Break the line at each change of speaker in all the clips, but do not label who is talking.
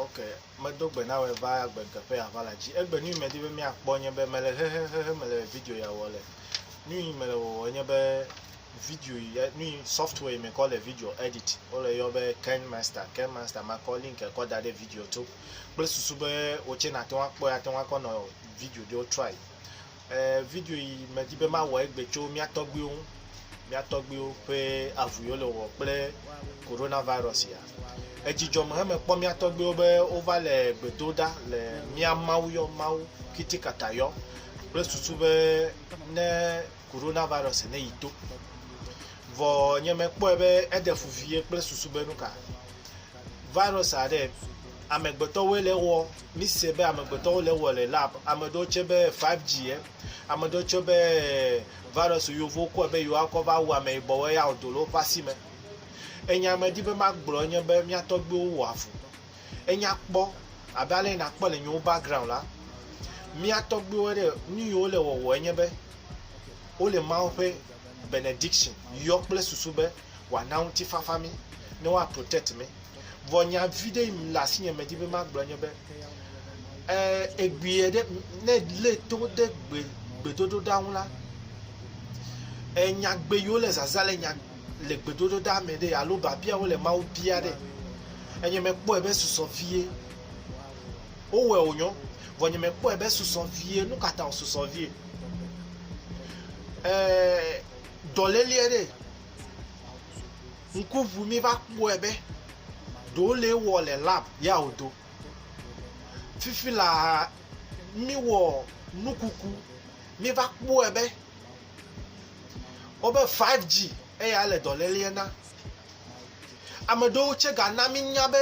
Ok, medo gbe na wɔ va agbe teƒe ava la dzi. Egbe nu yi medi be miakpɔ nye be mele hehehehe mele video ya wɔ le. Nu yi mele wɔwɔ nye be video yi nu yi software yi mekɔ le video edit wole yɔ be Ken Master. Ken Master makɔ link kɔ da ɖe video to kple susu be wotse nate ŋu akpɔe ate ŋu akɔ nɔ video ɖewo try. Eee video yi medi be mawɔ egbe tso mía tɔgbuiwo ŋu, mía tɔgbuiwo ƒe avu yi wole wɔ kple Corona Virus ya. Edzi dzɔ me heme kpɔ mía tɔgbuiwo be wova le gbe do ɖa le mía Mawu yɔ Mawu kitikata yɔ kple susu be ne Corona Virus ne yi to. Vɔ nye mekpɔe be eɖe fu vie kple susu be nuka? virus aɖe amegbetɔ woe le wɔ mi se be amegbetɔ wo le wɔ le lab ame ɖewo tse be 5G ye ame ɖewo tse be virus yovo kɔe be yewoa kɔ va wu ame yibɔ woe ya wodo le woƒe asi me enya me di be ma gblɔ enye be mia tɔgbiwo wɔ avu enya kpɔ abe ale na kpɔ le nyewo background la mia tɔgbiwo ɖe nu yi wo le wɔwɔ enye be wo le mawo ƒe benediction yɔ kple susu be wòana ŋutifafa mí, ne woa protect mí. Vɔ nya viɖe yi le asinye medi be magblɔ nye be, e, egbeɛ ɖe, ne lé to ɖe gbe, gbedodoɖa ŋu la, e, nyagbe yiwo le zaza le nya le gbedodoɖa me ɖe alo biabiawo le Mawu bia ɖe, enye mekpɔe be susɔ vie. Wowɔe wònyɔ, vɔ nye mekpɔe be susɔ vie. Nukata wòsusɔ vie? E, dɔléle aɖe ŋku ŋu mi va kpɔe be ɖe wole ewɔ le lab ya wodo. Fifi laa mi wɔ nukuku mi va kpɔe be wobe five G eya le dɔlele na. Ame aɖewo tse gana mi nya be.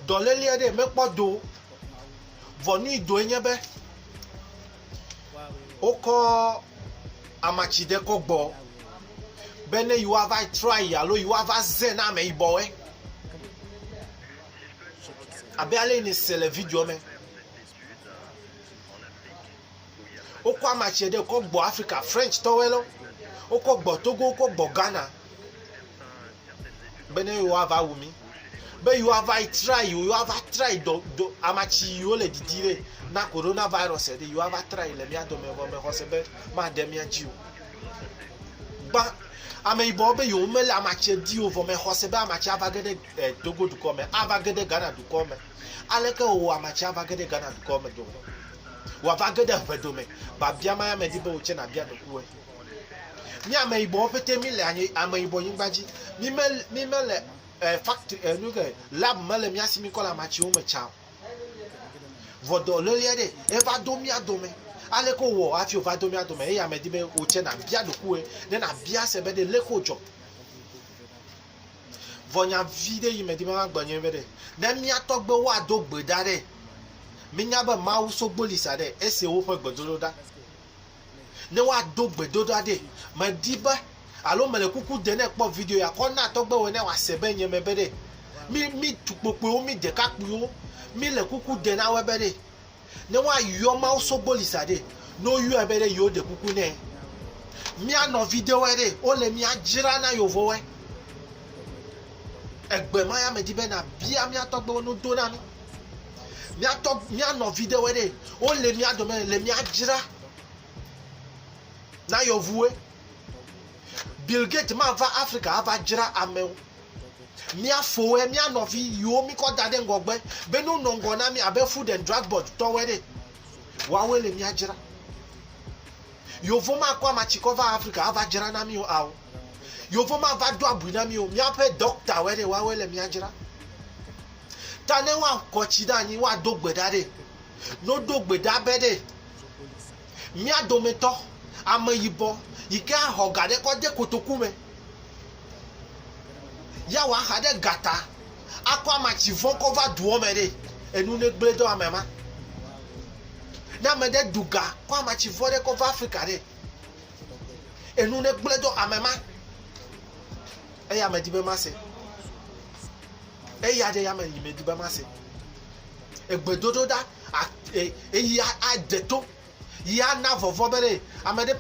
Dɔléleɛ ɖee mekpɔ do o. Vɔ nu yi doe nye be wokɔ amatsi ɖe kɔ gbɔ be ne yewoava trɔ ayi alo yewoava ze na ameyibɔwoe. Abe ale yi nèse le videoɔ me. Wokɔ ama tsɛ ɖe kɔ gbɔ Afrika French tɔwɛ lɔ. Wokɔ gbɔ Togo, wokɔ gbɔ Ghana. Be ne yewoa va wu mi. Be yewoa va yi try yiwo, yewoa va try dɔ, dɔ, ama tsi yiwo le didi be na Corona virus ɖe, yewoa va try le mía dome vɔ me xɔse be maɖe mía dzi o. Gbã, ame yibɔwo be yewo me le ama tsɛ di o vɔ me xɔse be ama tsɛ ava ge ɖe, eh, Togo dukɔ me, ava ge ɖe Ghana dukɔ me. Aleke wòwɔ ame tsia va ge ɖe Ghana dukɔ me dome? Wòava ge ɖe ʋe dome. Biabia mae medi be wò tse nàbia ɖokuiwòe. Mí ameyibɔwo ƒete míle anyi, ameyibɔ nyigba dzi. Mí me, mí mele eh, factory, eh, nu ke, lab mele mía si míkɔ le amatsiwo me tsa o. Vɔ dɔ loli aɖe eva do mía dome. Aleke wòwɔ hafi wòva do mía dome? Eya medi be wò tse nàbia ɖokuiwòe ne nàbia se be ɖe leke wodzɔ. Vɔ nya viɖe yi medi be magblɔ nye be ɖe, ne mía tɔgbewo ado gbe ɖa ɖe, mínya be Mawu sogboli sa ɖe ese woƒe gbedodoɖa. Ne woado gbedodoɖa ɖe, medi be alo mele kuku de ne kpɔ video ya kɔ na tɔgbewo ne woase be nye me be ɖe, mí, mí tukpokpuiwo, mí ɖekakpuiwo, míle kuku de na woe be ɖe, ne woayɔ Mawu sogboli sa ɖe, ne woyɔe be ɖe yewo ɖe kuku nɛ. Mía nɔvi ɖewɔe ɖe wole mía dzra na yovowɔe. Egbe ma ya me di be na bia mía tɔgbewo no do na mi. Mía tɔ mía nɔvi ɖewɔe ɖe wole mía dome le mía dzra na yɔvuwe. Bill Gates ma va Afrika ava dzra amewo. Mía foe, mía nɔvi yiwo mi kɔ da ɖe ŋgɔgbe be no nɔ ŋgɔ na mi abe food and drug board tɔwo ene. Woawoe le mía dzra. Yovo ma kɔ ama tsi kɔ va Afrika ava dzra na mi o ao. Yovo ma va do abui na mi o. Míaƒe doctor woe ɖe, woawoe le mía dzra. Ta ne woa kɔ tsi ɖe anyi woa do gbe ɖa ɖe, no do gbe ɖa be ɖe mía dometɔ ame yibɔ yike axɔ ga ɖe kɔ de kotoku me. Ya wa ha ɖe gata akɔ ama ci vɔn ko va duɔ me ɖe. Enu ne gble dɔ ame ma. Ne ame ɖe du ga kɔ ama ci vɔn ɖe ko va Afrika ɖe. Enu ne gble dɔ ame ma. Eya me di be ma se. Eya ɖe ya me yi me di be ma se. Egbe dodo da eyi adeto. Ya na vɔvɔ be ɖe ame ɖe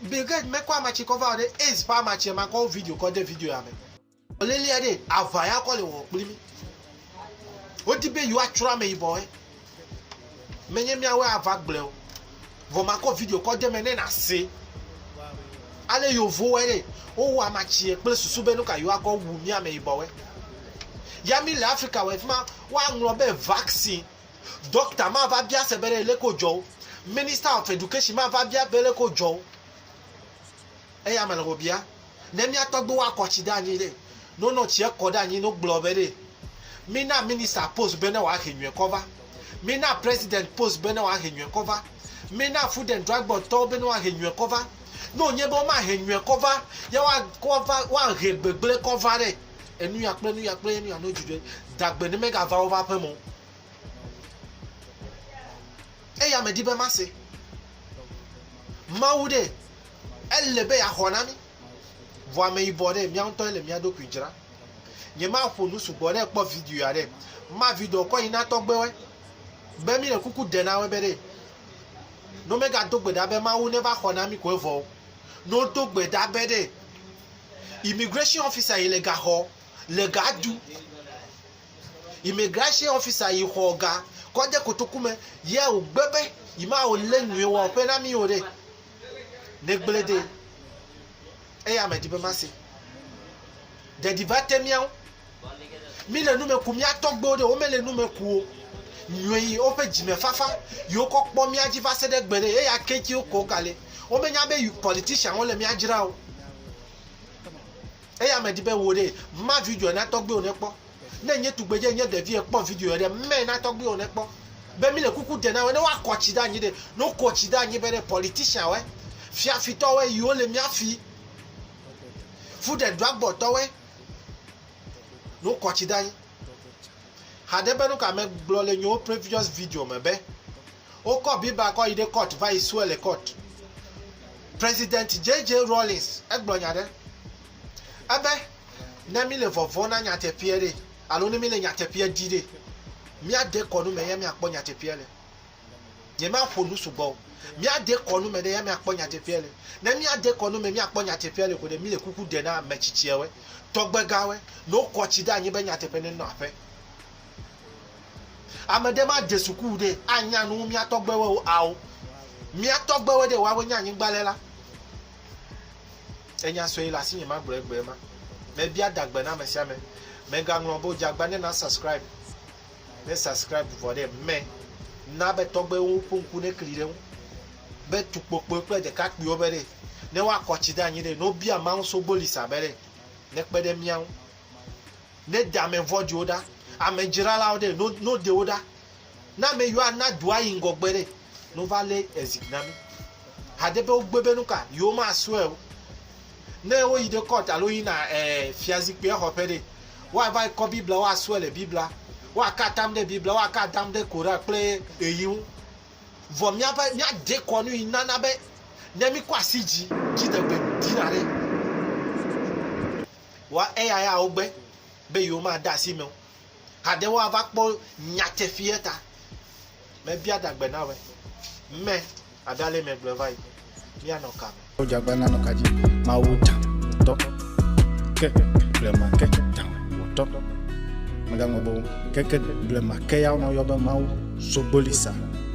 Bill Gates mekɔ amatsi kɔ va o ɖe aids ƒe amatsia makɔ wo video kɔ de video ya me. Lélia ɖe aʋa ya kɔ le wɔwɔ kpli mí. Wodi be yewoa tsrɔ ame yibɔ woe. Menye míawoe ava gblɔe o. Vɔ makɔ video kɔ de me ne na se ale yovo wɔe ɖe wowɔ amatsie kple susu be nuka yewoa kɔ wu mí ame yibɔ woe. Ya mí le Afrika wɔe fima woa ŋlɔ be vaccine. Dɔkta mava bia se be ɖe leke wodzɔ wo. Minister of Education mava bia be leke wodzɔ wo. Eya mele be wobia. Ne mía tɔgbuiwo akɔ tsi ɖe anyi ɖe, ne wonɔ tsia kɔ ɖe anyi ne wogblɔ be ɖe mina minister post be ne wòahe nyuie kɔ va, mina president post be ne wòahe nyuie kɔ va, mina food and drug board tɔwo be ne woahe nyuie kɔ va. Ne wònye be womahe nyuie kɔ va, ya woa, kɔ va, woahe gbegblẽ kɔ va ɖe. Enuya kple enuya kple enuya no dzi ɖe dagbe ne megava woƒe aƒe mɔ. Eya medi be mase. Mawu ɖe ele be yeaxɔ na mi. Vɔ ame yibɔ ɖe mía ŋutɔ ele mía ɖokui dzra. Nye maƒo nu sugbɔ ɖe kpɔ video ya ɖe. Ma video kɔ yi na tɔgbewe. Be mi le kuku de na we be ɖe. No mega do gbe ɖa be Mawu ne va xɔ na mi ko evɔ. No do gbe ɖa be ɖe. Immigration officer yi le gaxɔ le ga du. Immigration officer yi xɔ ga kɔ de kotoku me ye wo gbe be yi ma wo le nyuie wa ƒe na mi o ɖe. Ne gble de eya me di be ma se. Ɖeɖi ba te miawo Míle nume ku mía tɔgbewo ɖe, womele nume ku o. Nyɔe yi woƒe dzimefafa yi wokɔ kpɔ mía dzi va se ɖe egbe ɖe, eya ke ŋuti wokɔ ga le. Womenya be politicianwo le mía dzram o. Eya medi be wò ɖe, ma videoa na tɔgbewo ne kpɔ. Ne nye tugbedze nye ɖevi ekpɔ videoa ɖe, mae na tɔgbewo ne kpɔ. Be mile kuku de na wo ne woakɔ tsi ɖe anyi ɖe, ne wokɔ tsi ɖe anyi be ɖe politicianwoe, fiafitɔwoe yi wole mía fi, fuɖeɖeagbɔtɔwoe. No kɔtsi da yi. Hade be nuka me gblɔ le nyo previous video me be o kɔ biba kɔ yi de court va yi sue le court. President JJ Rawlings e gblɔ nya ɖe. Ebe ne mi le vɔvɔ na nyateƒeɛ ɖe alo ne mi le nyateƒeɛ di ɖe mia de kɔnu me ya mia kpɔ nyateƒeɛ le. Nyemaƒo nu sugbɔ o. Míade kɔ nu me ɖe ya míakpɔ nyateƒea le. Ne míade kɔ nu me míakpɔ nyateƒea le ko ɖe, míle kuku ɖe na ame tsitsiawoe, tɔgbegawoe, ne wokɔ tsi ɖe anyi be nyateƒe nenɔ aƒe. Ame ɖe made suku o ɖe, anya nu wu mía tɔgbewoeo? Ao. Mía tɔgbewoe ɖe, woawoe nye anyigba le la. Enya sue le asinye magblɔ egbee ma. Mebia dagbe na ame sia ame. Mègaŋlɔ be wodze agba ne na subscribe. Ne subscribe vɔ ɖe mme, na be tɔgbewo ƒe ŋku nekli ɖe ŋu be tukpokpoe kple ɖekakpuiwo be ɖe ne woakɔ tsi ɖe anyi ɖe ne wobia Mawu Sogbolisa be ɖe nekpe ɖe mía ŋu. Ne de ame vɔ̃ɖiwo ɖa, ame dzralawo ɖe no no de wo ɖa. Ne ame yiwo ana dua yi ŋgɔgbe ɖe no va lé ezi na mí. Hade be wogbe be nuka yewomasrɔe o. Ne woyi ɖe court alo woyina eh, fiazikpuia xɔ ƒe ɖe, woava yi kɔ Biblia, woasrɔe le Biblia, woaka atam ɖe Biblia, woaka atam ɖe Koran kple ɣeyiɣi ŋu. Vɔ míaƒe, míade kɔ nu yi nana be ne míkɔ asi dzi, dziɖegbe dina ɖe wa eya ya wogbe be yewomade asi eme o. Kade woava kpɔ nyateƒeɛ ta? Mebia dagbe na wɛ. Mɛ ada lɛ mɛgble va yi. Mia nɔ ka me? Woja gba na nɔ ka ji?
Mawu ta wotɔ. Ke blema ke ta wotɔ. Mega ŋɔ bo. Ke ke blema ke ya nɔ yɔ be Mawu so gboli sa.